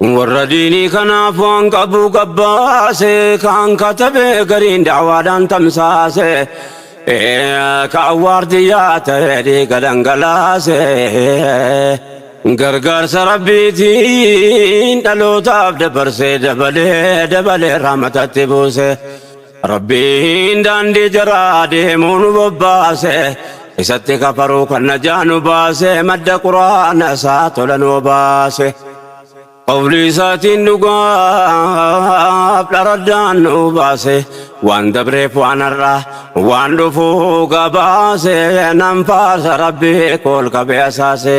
Warra diinii kanaaf waan qabu gabbaase, kaan katabe gariin da'waadhaan tamsaase, kaan waardiyyaa ta'ee dhiiga dhangalaase. Gargaarsa Rabbiitiin dhalootaaf dabarsee dabalee dabalee rahmatatti buuse. Rabbiin daandii jaraa deemuu nu bobbaase Isatti kafaruu kan najaa nu baase Madda quraana isaa tola nu obaase Qawlii isaatiin dhugaaf dharaddaan nu baase Waan dabreef waan har'aa waan dhufuu gabaase Nan faarsa Rabbii kool qabee asaase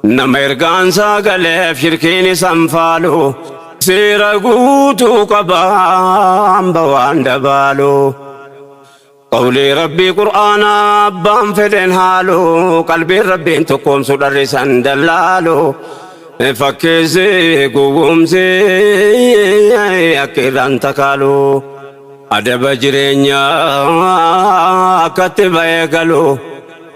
Nama ergaansaa galeef shirkiin isan faalu seera guutuu qaba hamba waan dabaalu qawlii rabbii qur'aanaa abbaan fedhen haalu qalbiin rabbiin tokkoomsu dharrisan dallaalu fakkeessi gowwoomsi akka irraan takaalu adaba jireenyaa akkatti ba'ee galu.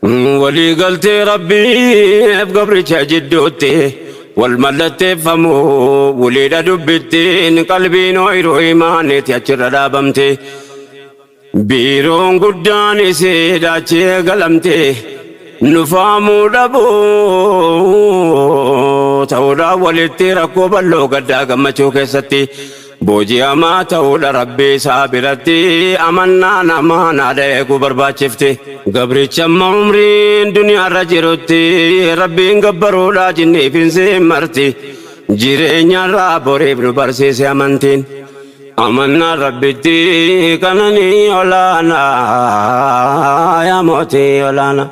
Walii galtee Rabbiif gabricha jidduutti wal mallatteeffamu waliidha dubbittiin qalbiin ooyiruu imaaniiti achirra dhaabamte. Biiroon guddaan isiidha achi eegalamte. Nufaamuu dhabuu ta'uudhaan walitti rakkoo bal'oo gaddaa gammachuu keessatti Booji'amaa ta'uudha Rabbii isaa biratti amannaa namaan haadha eeguu barbaachifti. Gabrichi amma umriin duniyaarra jirutti Rabbiin gabbaruudha jinniif insiin marti. Jireenyarraa boriif nu barsiise amantiin. Amannaan Rabbitti kana ni olaana yaa mootii olaana.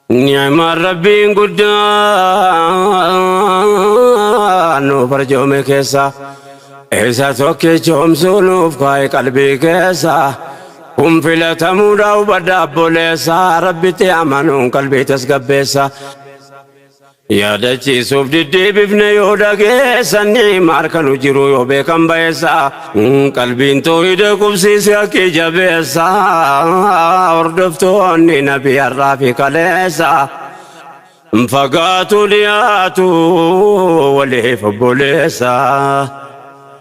Ni'maan Rabbiin guddaan nu barjoome keessa isa tokkicha homsuu nuuf kaa'e qalbii keessa kun filatamuudha hubadha abboleessa rabbitti amanuun qalbii tasgabbeessa. Yaadachiisuuf diddeebifne yoo dhageessan ni maal kan jiru yoo beekan bayeessa qalbiin toohida qubsiise akkii jabeessa hordoftoonni nabi har'aa fi kaleessa fagaatu dhiyaatu waliif obboleessa.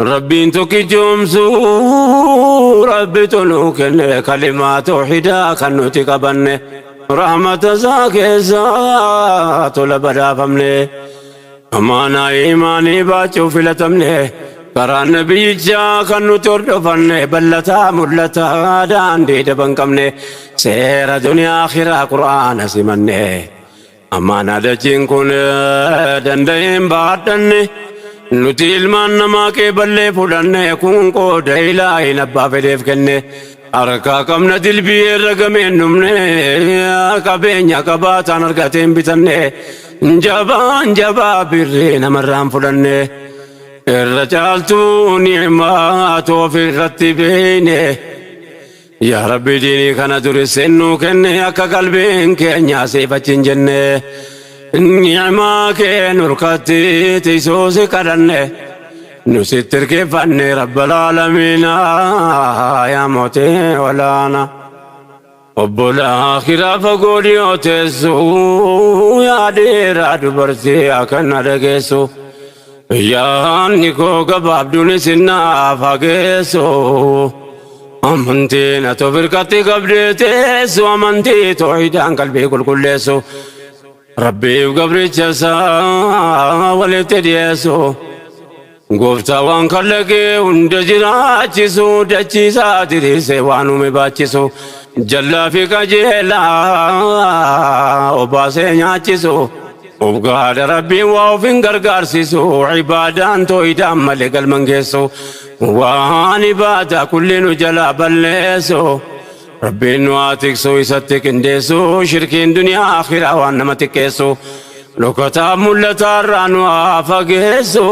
Rabbiin tokkichoomsuu Rabbitu nuu kenne kalimaa toohidaa kan nuti qabanne rahmata isaa keessa tola badhaafamne amaanaa imaanii baachuuf filatamne karaa nabiyyichaa kan nuti hordofanne ballataa mul'ataa daandii daban qabne seera duniyaa akhiraa qur'aana simanne Ammaana dachiin kun danda'een baadhanne nuti ilmaan namaa qeeballee fudhanne kun qooda ilaahin abbaa fedheef kenne harkaa qabna dilbii irra gameen dhumne qabeenya qabaataan argateen bitanne jabaan jabaa birrii namarraan fudhanne irra caaltuu ni'maa toofi irratti beeyne. Yaa Rabbi diinii kana durisseen nuu kenne akka qalbiin keenya siif achi hin jenne ni'imaa kee nurkatti tiksuu si kadhanne nu sitti irkeeffanne rabbal aalamiina yaa mootee olaana obbolaa kiraa fagoo dhiyoo teessu yaa dhiiraa dubartii akkanna dhageessu. Yaanni koo gabaabduunis naaf haa geessu. Amantiin ati of irkatti qabdee teessu amantii toohidaan qalbii qulqulleessu. Rabbiif gabricha isaa walitti dhiyeessu. Gooftaa waan kallaqee hunda jiraachisu dachiisaa diriirsee waan uume baachisu. Jallaa fi qajeelaa obaasee nyaachisu. Of gahaadha rabbiin waa of hin gargaarsisu ibaadaan tooyidaan malee galman geessu waan ibaadaa kulli nu jalaa balleessu rabbiin nu haa tiksu isatti qindeessu shirkiin duniyaa akhiraa waan nama xiqqeessu dhokataa mul'ataa irraa nu haa fageessu.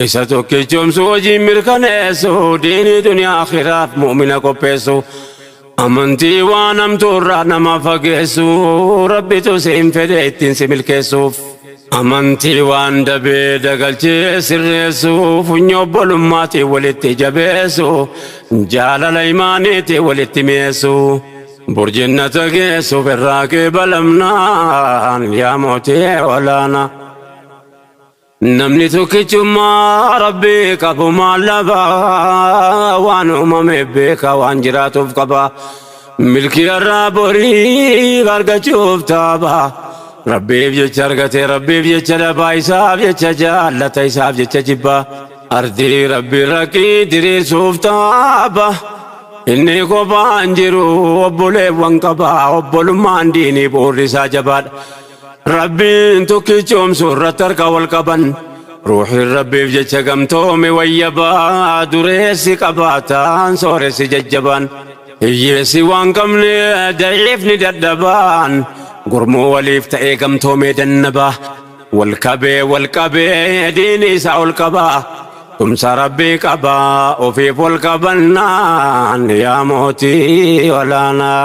Isa tokkichoomsu hojiin mirkaneessu diinii duniyaa akhiraaf mu'mina qopheessu amantii waan hamtuurraa nama fageessu rabbitu siin fedhe ittiin si milkeessuuf amantii waan dabee dagalchee sirreessu funyoo obbolummaatiin walitti jabeessu jaalala imaaniitiin walitti mi'eessu burjinnata geessuuf irraa qeebalamnaan yaa mootee olaanaa. Namni tokkichummaa rabbii qabu maal dhaba waan uumame beeka waan jiraatuuf qaba milkii irraa borii argachuuf taaba rabbiif jecha argate rabbiif jecha dhabaa isaaf jecha jaallata isaaf jecha jibba ardii rabbii raqqii diriirsuuf taaba inni kophaan jiru obboleewwan qaba obbolummaan diinii bu'uurri isaa jabaadha. Rabbiin tokkichoomsu irratti harka wal qaban ruuxiin rabbiif jecha gamtoome wayyabaa dureessi qabaataan sooressi jajjabaan hiyyeessi waan qabne da'iifni dadhabaan gurmuu waliif ta'ee gamtoomee dannabaa wal qabee wal qabee diini isaa ol qabaa tumsa rabbii qabaa ofiif wal qabannaan yaa mootii olaanaa.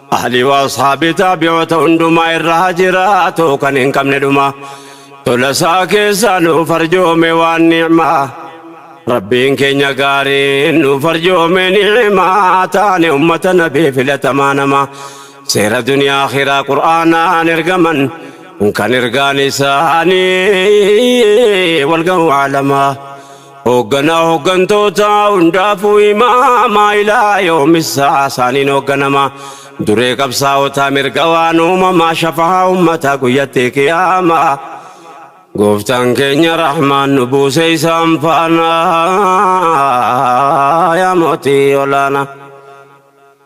Ahlii wa Ashaabii Taabi'oota hundumaa irra haa jiraatu kan hin qabne dhumaa Tola isaa keessaa nuuf arjoome waan ni'maa Rabbiin keenya gaariin nuuf arjoome ni'maa Taane ummata nabii filatamaa namaa Seera duniyaa akhiraa qur'aanaan ergaman Kan ergaan isaanii wal gahu alamaa Hoogganaa hooggantoota hundaafuu imaamaa ilaa yoomissaa isaaniin hoogganama. Duree qabsaa'otaa mirga waan uumamaa shafahaa ummataa guyyatti qiyaama. Gooftaan keenya rahmaan nu buusee isaan faana yaa mootii olaanaa.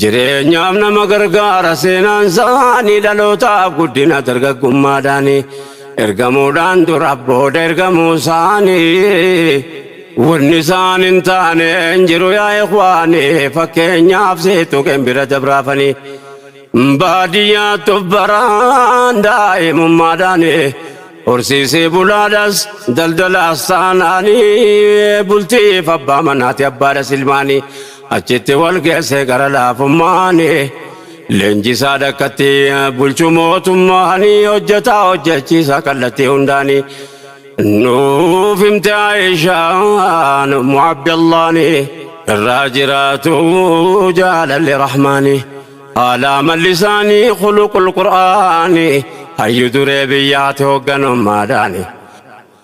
Jireenyaaf nama gargaara seenaan isaanii dhalootaaf guddina dargaggummaadhaani ergamuudhaan dura booda ergamuu isaanii wanni isaan hin taane hin jiru yaa ikwaanii fakkeenyaaf seetuqeen bira dabraafanii baadiyyaattu baraan daa'imummaadhaani horsiisee bulaadhas daldalaas taanaanii bultiif abbaa manaati abbaadhas ilmaanii Achitti wal geesse gara laafummaan leenjisaa dakkatti bulchu mootummaan hojjetaa hojjechiisa kallattii hundaan nuuf himte Aayishaan ummu Abdallaan irraa jiraatu jaalalli rahmaani haala amalli isaanii khuluqul qur'aani hayyu duree biyyaati hoogganummaadhaani.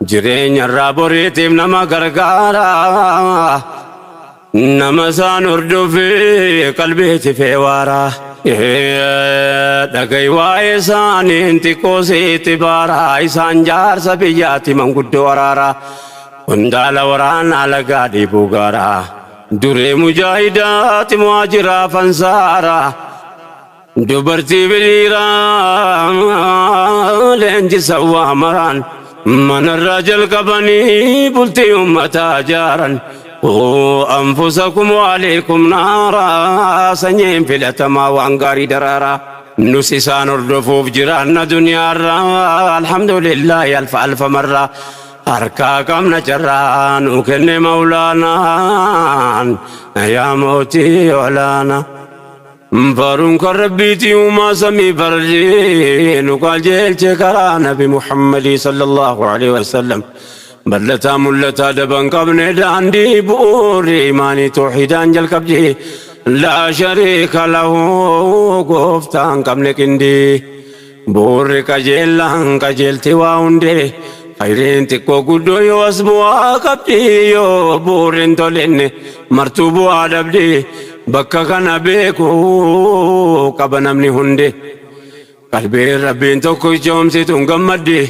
Jireenya irraa boriitiif nama gargaara. Nama isaan hordofi qalbii tifee waara. Dhaga'i waa'ee isaaniin xiqqoo sitti baara. Isaan jaarsa biyyaati manguddoo waraara. Qondaala waraanaa lagaa dhiibuu gaara. Duree mujaahidaati muhaajiraa fansaara. Dubartii fi dhiiraa leenjisa waa maraan manarraa jalqabanii bultii ummataa jaaran. Quu anfusakum waaliikum naaraa sanyiin filatamaa waan gaarii daraaraa. Nus isaan hordofuuf jiraanna duniyaarraa alhamdulillaahi alfa alfa marraa. Harkaa qabna carraa nuu kenne mawlaanaan yaa mootii olaanaa. Faaruun kan rabbiiti uumaa samii farjii nu qajeelche karaa nabi Muhammadii sallallahu alaihi wasallam bal'ataa mul'ataa daban qabne daandii bu'uurri imaanii toohidaan jalqabdi laa shariika lahu gooftaan qabne qindii Bu'uurri qajeellaan qajeelti waa hundee Khayriin xiqqoo guddoo yoo as bu'aa qabdi Yoo bu'uurri hin tolinne martuu bu'aa dhabdi Bakka kana beeku qaba namni hundi Qalbiin rabbiin tokkichoomsituun gammaddi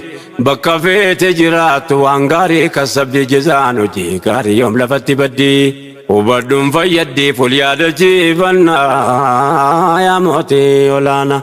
Bakka feete jiraattu waan gaarii kassabdi Jazaan hojii gaarii yoom lafatti baddi Hubadhuun fayyaddiif wal yaadachiifannaa Yaa mootii olaanaa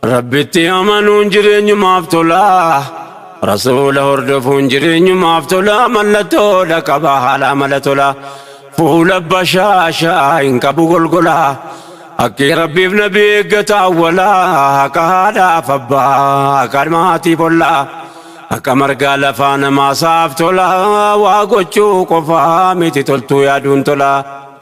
Rabbitti amanuun jireenyumaaf tola. Rasuula hordofuun jireenyumaaf tola. Mallattoodha qaba haala amala tola. Fuula bashaashaa hin qabu golgola. Haqqii Rabbiif nabi eeggata awwala. Haqa haadhaaf abbaa, haqa maatiif olla. Haqa margaa lafaa namaasaaf tola. Waa gochuu qofaa miti toltuu yaaduun tola.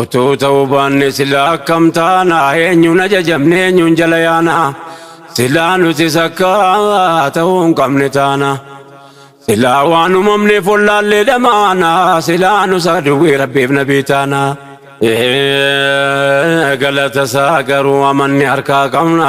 Utuu ta'uu baanne silaa akkam taana? Eenyuun ajajamne eenyuun jala yaana? Silaa nutis akka ta'uu hin qabne taana. Silaa waan uumamneef wallaallee dhamaana. Silaa nus aduwwii rabbiif nabii taana. Ee, Galata isaa garuu amanne harkaa qabna.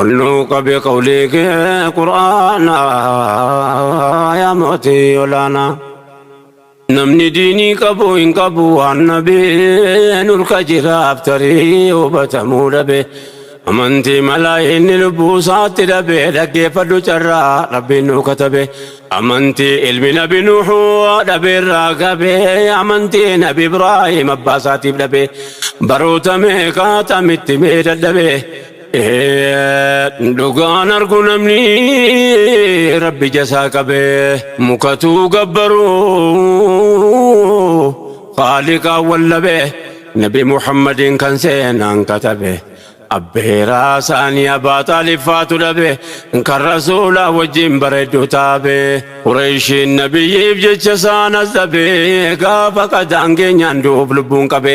Olluu qabe qawlii kee qur'aana yaa mootii olaana. Namni diinii qabu hin qabu waan nabee nurka jiraaf tarii hubatamuu dhabe. Amantii malaa inni lubbuu isaatti dhabe dhaggeeffadhu carraa rabbiin nu katabe. Amantii ilmi nabi nuuxuu dhabe irraa gabe amantii nabi Ibraahim abbaa isaatiif dhabe. Baroota meeqaa tamitti mee dadhabe. Dhugaan argu namni rabbi jasaa qabe mukatuu gabbaru qaaliqaa wallabe nabi muhammadin kan seenaan katabe abbeeraa saanii abaa xaaliffaatu dhabe kan rasuulaa wajjin bareeddu taabe qureeshiin nabiyyiif jecha saan azabe gaafa qadaangeenyaan du'uuf lubbuun qabe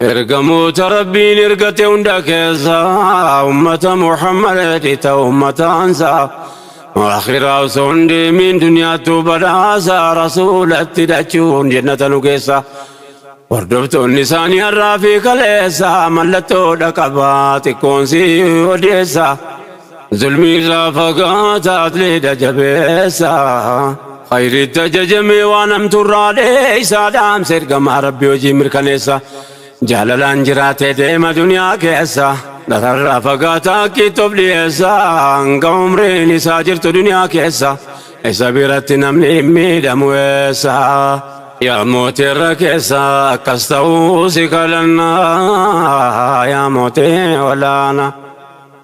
Ergamoota Rabbiin ergate hunda keessa ummata Muhammadeeti ta ummataansa akhiraa osoo hin deemiin duniyaattuu badhaasa rasuulatti dhachuun jennata nu geessa. Hordoftoonni isaanii har'aa fi kaleessa mallattoo dhaqabaa xiqqoon si odeessa. Zulmii irraa fagaata atleeda jabeessa. Khayriitti ajajamee waan hamtuu irraa dheessa. Dhaamsa ergamaa rabbi hojii mirkaneessa. Jaalalaan jiraatee deema duniyaa keessa. Dhararraa fagaata akkiitti of dhiyeessa. Hanga umriin isaa jirtu duniyaa keessa. Isa biratti namni hin miidhamu eessa. Yaa mootii irra keessa akkas ta'uu si kadhanna. Yaa mootii olaanaa.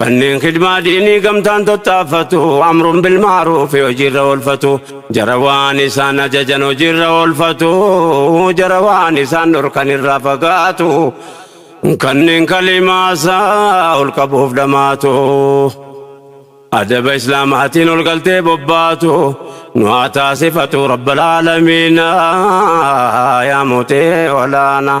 Manneen khidmaa diinii gamtaan tattaaffatu amruun bilmaaruufi hojiirra oolfatu jara waan isaan ajajan hojiirra oolfatu jara waan isaan dhorkan irraa fagaatu kanneen kalimaasaa ol qabuuf dhamaatu adaba islaamaatiin ol galtee bobbaatu nu haa taasifatu rabbal aalamiina yaa mutee olaanaa.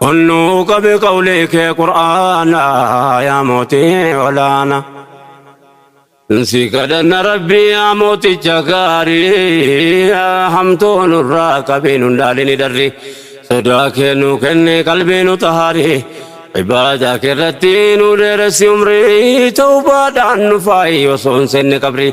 Kun nu qabe qawlii kee qur'aana yaa mootii olaana. Si kadhanna rabbii yaa mooticha gaarii hamtuu nurraa qabii nun dhaalini darri sodaa kee nu kenne qalbii nu tahaari ibaadaa kee irratti nu dheeressi umrii tawbaadhaan nu faayi osoo hin seenne qabrii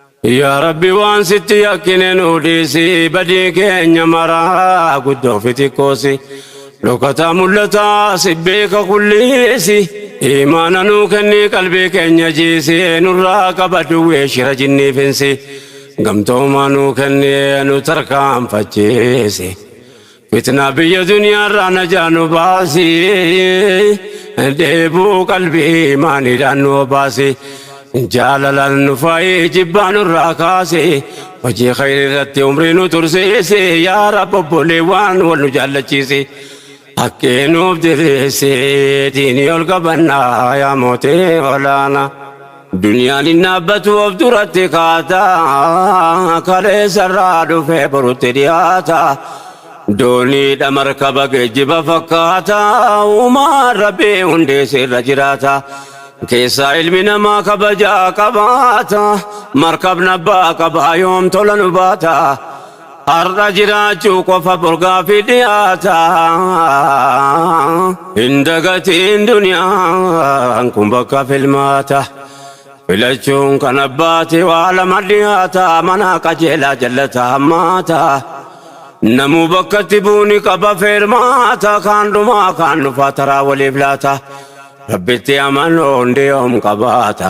Yaa Rabbi waan sitti yakkine nuu dhiisi badii keenya maraa guddoo fi xiqqoosi dhokataa mul'ataa si beeka kulliisi imaana nuu kenni qalbii keenya jiisi nurraa qaba duwwee shira jinnii finsi gamtoomaa nuu kenni nu tarkaanfachiisi Fitnaa biyya duniyaarraa najaa nu baasi dheebuu qalbii imaaniidhaan nu obaasi jaalalaan nu faayi jibbaa nurraa kaasi hojii khayri irratti umrii nu tursiisi yaa rab obboleewwaan wal nu jaallachiisi haqqee nuuf diriirsi diinii ol qabannaa yaa mootee olaanaa. Duniyaan hin dhaabbattu of duratti kaata, kaleessarraa dhufee borutti dhiyaata. Dooniidha markaba geejjiba fakkaata, uumaan Rabbii hundee sirra jiraata. Keessaa ilmi namaa kabajaa qabaata, markabni abbaa qabaa yoom tola nu baata. Har'a jiraachuu qofa borgaafi dhiyaata. Hin dagatiin duniyaan kun bakka filmaata. Filachuun kan abbaati waa lama dhiyaata. Mana qajeelaa jallata hammaata. Namuu bakkatti buuni qaba feermaata. Kaan dhumaa kaan dhufaa taraa waliif laata. Rabbitti amanuun diyoom qabaata.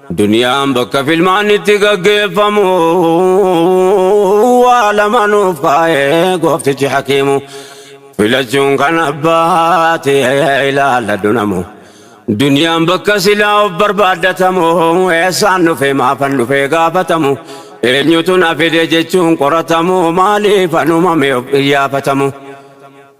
Duniyaan bakka filmaanni itti gaggeeffamu waa lama nuuf kaa'ee gooftichi hakiimu filachuun kan abbaati ilaalla dunamu duniyaan bakka silaa of barbaaddatamu eessaan dhufee maafan dhufee gaafatamu eenyutu na fide jechuun qoratamu maaliif anumame of qiyyaafatamu.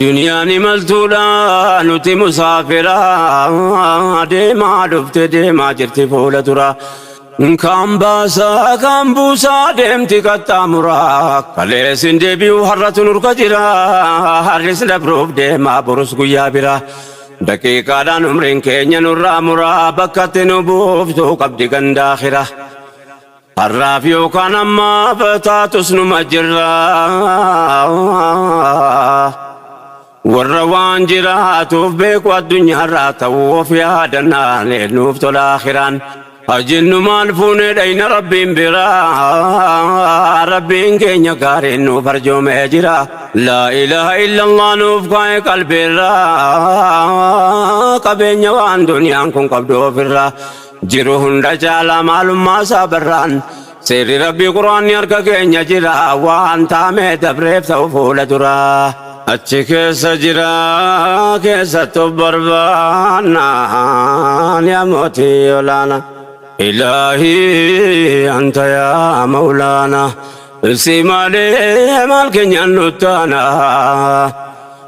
Duniyaan imaltuudha nuti musaafira deemaa dhufte deemaa jirti fuula dura. Kaan baasaa kaan buusaa deemti qaxxaamura. Kalees hin deebi'u har'atu nurka jira. Har'is dabruuf deemaa borus guyyaa bira. Daqiiqaadhaan umriin keenya nurraa mura bakkatti nu buuftu qabdi gandaa kira. Har'aaf yookaan ammaaf taatus numa jirra. Warra waan jiraatuuf beeku addunyaarraa ta'uu of yaadannaan nuuf tola akhiraan. Hajinnu maal fuunee dhayna rabbiin biraa rabbiin keenya gaariin nuuf arjoomee jira. Laa ilaaha illallah nuuf kaa'e qalbiirraa qabeenya waan duniyaan kun qabdu ofirraa. Jiru hunda caala maalummaa isaa barraan seerri rabbii quraanni harka keenya jira waan taamee dabreef ta'u fuula duraa. Achi keessa jira keessattu barbaannaan yaa mootii olaana. Ilaahii anta yaa mawlaana si malee maal keenyaan nuttaana.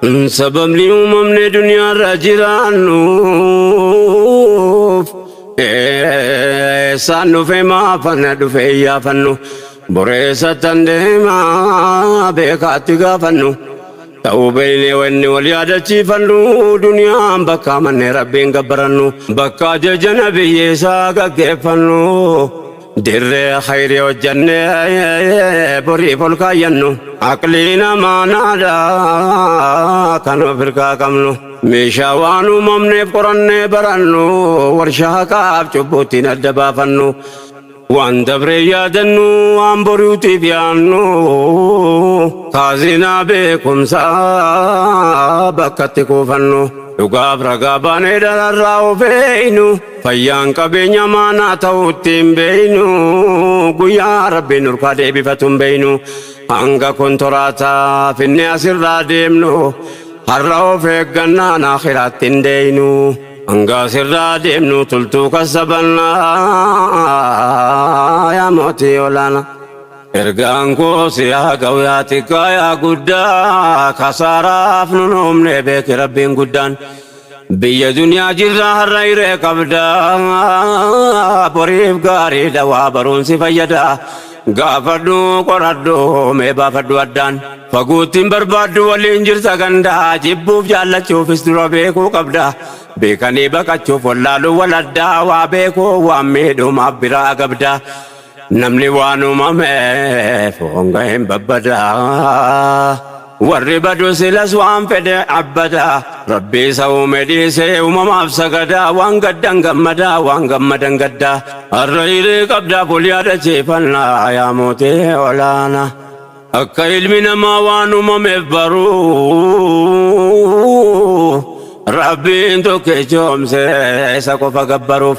Sababni uumamne duniyaarra jiraannuuf eessaan dhufe maafana dhufe iyyaafannu boreessattan deemaa beekaatti gaafannu ta'uu beeynee wanni wal yaadachiifannu duniyaan bakka manne rabbiin gabbarannu bakka ajaja nabiyyeessaa gaggeeffannu Dirree khayrii hojjannee boriif ol kaayyannu aqlii namaa naadha kan of hirkaa qabnu meeshaa waan uumamneef qorannee barannu warshaa haqaaf cubbuuttiin adda baafannu waan dabree yaadannu waan boriitiif yaannu kaazinaa beekumsaa bakkatti kuufannu dhugaaf ragaa baanee dararraa of eeynu. Fayyaan qabeenya maanaa ta'uu ittiin beeynu guyyaa rabbiin nurkaa deebifatu hin beeynu hanga kontoraataa finne asirraa deemnu har'a of eeggannaan akhiraatti hin deeynu hanga asirraa deemnu tultuu kassabannaa yaa mootii olaana. Ergaan koo si haa ga'u yaa xiqqaa yaa guddaa kasaaraaf nun uumne beeki rabbiin guddaan. Biyya duniyaa jirra har'a hiree qabda boriif gaariidha waa baruun si fayyada gaafadhu qoradhu mee baafadhu addaan faguuttiin barbaaddu waliin jirta ganda jibbuuf jaallachuufis dura beekuu qabda beekanii baqachuuf wallaaluu wal addaa waa beekuu waan miidhumaaf biraa agabda Namni waan uumameef honga hin babbada. Warri badu silas waan fedhe abbata. Rabbi isa uume dhiisee uumamaaf sagada. Waan gaddan gammada, waan gammadan gadda. Har'a hiree qabda bul yaadachiifanna yaa mootii olaana. Akka ilmi namaa waan uumameef baruu. Rabbiin tokkichoomse isa qofa gabbaruuf.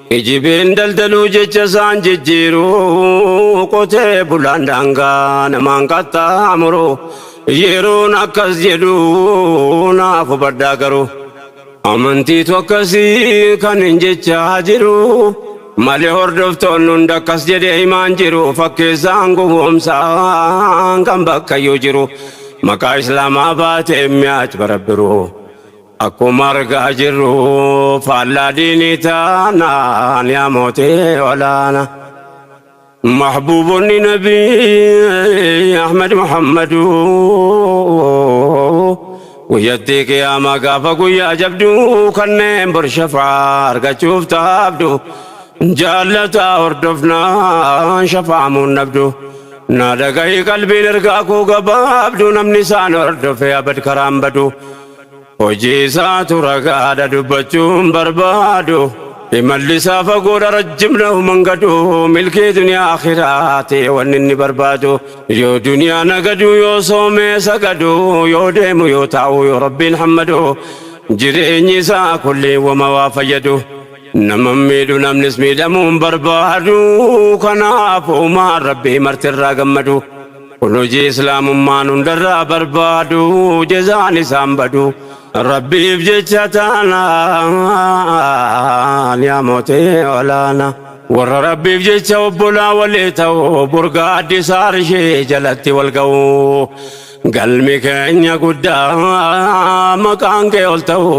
Kijibin daldaluu jecha isaan jijjiiruu qotee bulaan daangaa namaan qaxxaamuru yeroon akkas jedhu naaf hubadhaa garuu amantiitu akkasii kan hin jechaa jiru malee hordoftoonni hunda akkas jedhee himaan jiru fakkeessaan gowwoomsaan kan bakkayyuu jiru maqaa islaamaa baatee mi'aat barabbiruu. Akkuma argaa jirru faallaa diinii taanaan yaa mootii olaana. Mahbuubonni nabii Ahmed Muhammadu guyyattii qiyaamaa gaafa guyyaa jabdu kanneen bor shafaa argachuuf taabdu jaallataa hordofnaan shafaamuun nabdu. Naa dhagahi qalbiin ergaa koo gabaabdu namni isaan hordofe abad karaan badu. Hojiisaatu ragaadha dubbachuun barbaadu Imallisaa fagoodha rajjimna human gadu Milkii duniyaa akhiraa ta'e wanni inni barbaadu Yoo duniyaa nagadu yoo soomee sagadu Yoo deemu yoo taa'u yoo rabbiin hammadu Jireenyi isaa kulliin wama waa fayyadu Nama miidhu namnis miidhamuun barbaadu Kanaaf uumaan rabbii martirraa gammadu Kun hojii Islaamummaan hundarraa barbaadu jezaan isaan badu Rabbiif jecha taanaan yaa mootee olaana warra Rabbiif jecha obbolaa walii ta'u burgaa addisaa arshee jalatti wal ga'u galmi keenya guddaa maqaan kee ol ta'u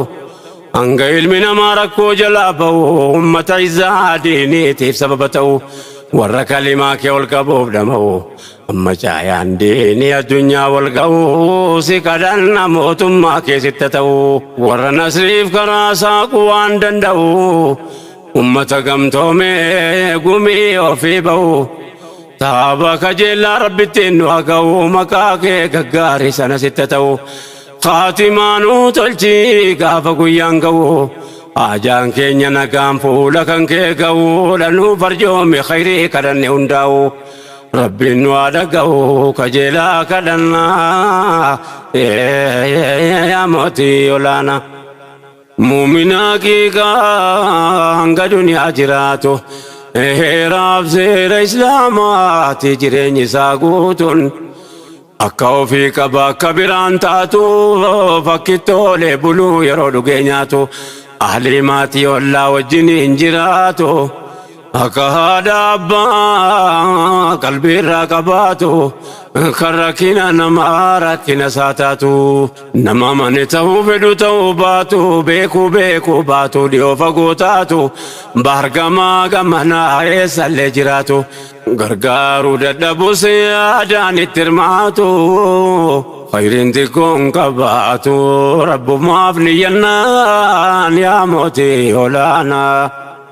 Hanga ilmi namaa rakkoo jalaa ba'u ummata izaa diiniitiif sababa ta'u warra kalimaa kee ol qabuuf dhama'u amma caayaan diinii addunyaa wal ga'u si kadhanna mootummaa kee sitta ta'u warra nasriif karaa saaqu waan danda'u ummata gamtoomee gumii ofii ba'u taaba kajeellaa rabbittiin nu haga'u maqaa kee gaggaarii sana sitta ta'u Khaatimaa nuu tolchi gaafa guyyaan ga'u Haajaan keenya nagaan fuula kan kee ga'u Dha nuu farjoomi khayrii kadhanne hundaa'u Rabbiin nu haa dhaga'u kajeelaa kadhannaa Yaa mootii olaanaa Mu'mina haqiiqaa hanga duniyaa jiraatu Heeraaf seera Islaamaati jireenyi isaa guutuun Akka ofii qaba akka biraan taatu Fakkittoolee buluu yeroo dhugee nyaatu Ahlii maatii ollaa wajjiniin jiraatu Akka haadha abbaa qalbiirraa qabaatu kan rakkina namaa rakkina isaa taatu nama mani ta'uu fedhu ta'uu baatu beekuu beekuu baatu dhiyoo fagoo taatu baargamaa gamanaa eessallee jiraatu gargaaruu dadhabus yaadaan itti hirmaatu khayriin xiqqoon qabaatu rabbumaaf niyyannaan yaa mootii olaanaa.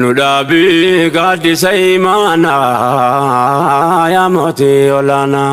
Nu dhaabi gaaddisa imaanaa yaa mootii olaanaa.